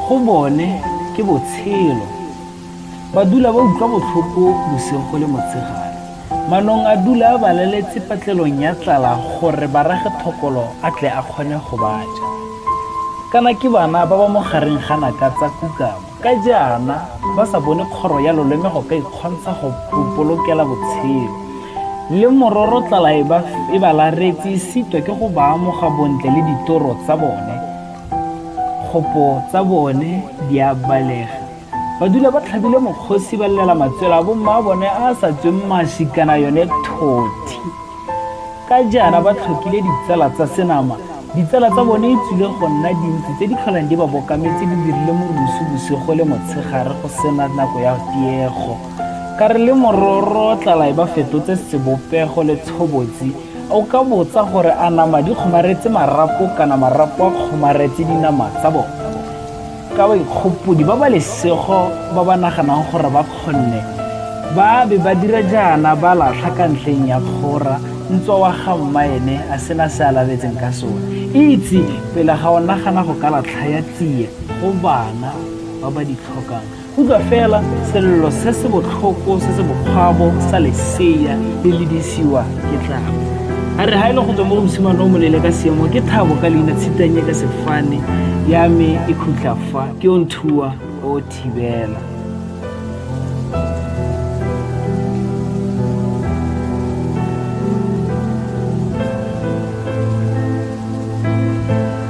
go bone ke botshelo ba dula ba utlwa botlhoko bosigo go le motshegare manong a dula a balaletse patlelong ya tlala gore ba rage thokolo a tle a kgone go baja kana ke bana ba ba mo gareng ga naka tsa kukamo ka jaana ba sa bone kgoro ya loleme go ka ikgontsha go polokela botshelo le mororo tlala e ba e laretse e sitwa ke go ba amoga bontle le ditoro tsa bone kgopo tsa bone di a balega ba dula ba tlhabile mokgosi ba llela matswela a bomma a bone a sa tsweng mashi kana yone thothi Ka jaana ba tlhokile ditsala tsa senama. Ditsala tsa bone e tswile go nna dintsi tse di tlholang di ba bokametse di dirile morusu bosigo le motshegare go sena nako ya tiego. Ka re le mororo tlala e ba fetotse sebopego le tshobotsi. O ka botsa gore a nama di kgomaretse marapo kana marapo a kgomaretse dinama tsa bone? ka baikgopodi ba ba lesego ba ba naganang gore ba kgonne ba be ba dira jaana ba latlha ka ntleng ya kgora ntswa wa ga mma ene a sena se a laletseng ka sone itse pele ga o nagana go ka latlha ya tsie go bana ba ba di tlhokang utlwa fela selelo se se botlhoko se se bokgwabo sa leseya le ledisiwa ke tla a re ga e le go tswa mo go mosimane o molele ka seemo ke thabo ka leina tshitanye ka sefane ya me e khutla fa ke o nthuwa o thibela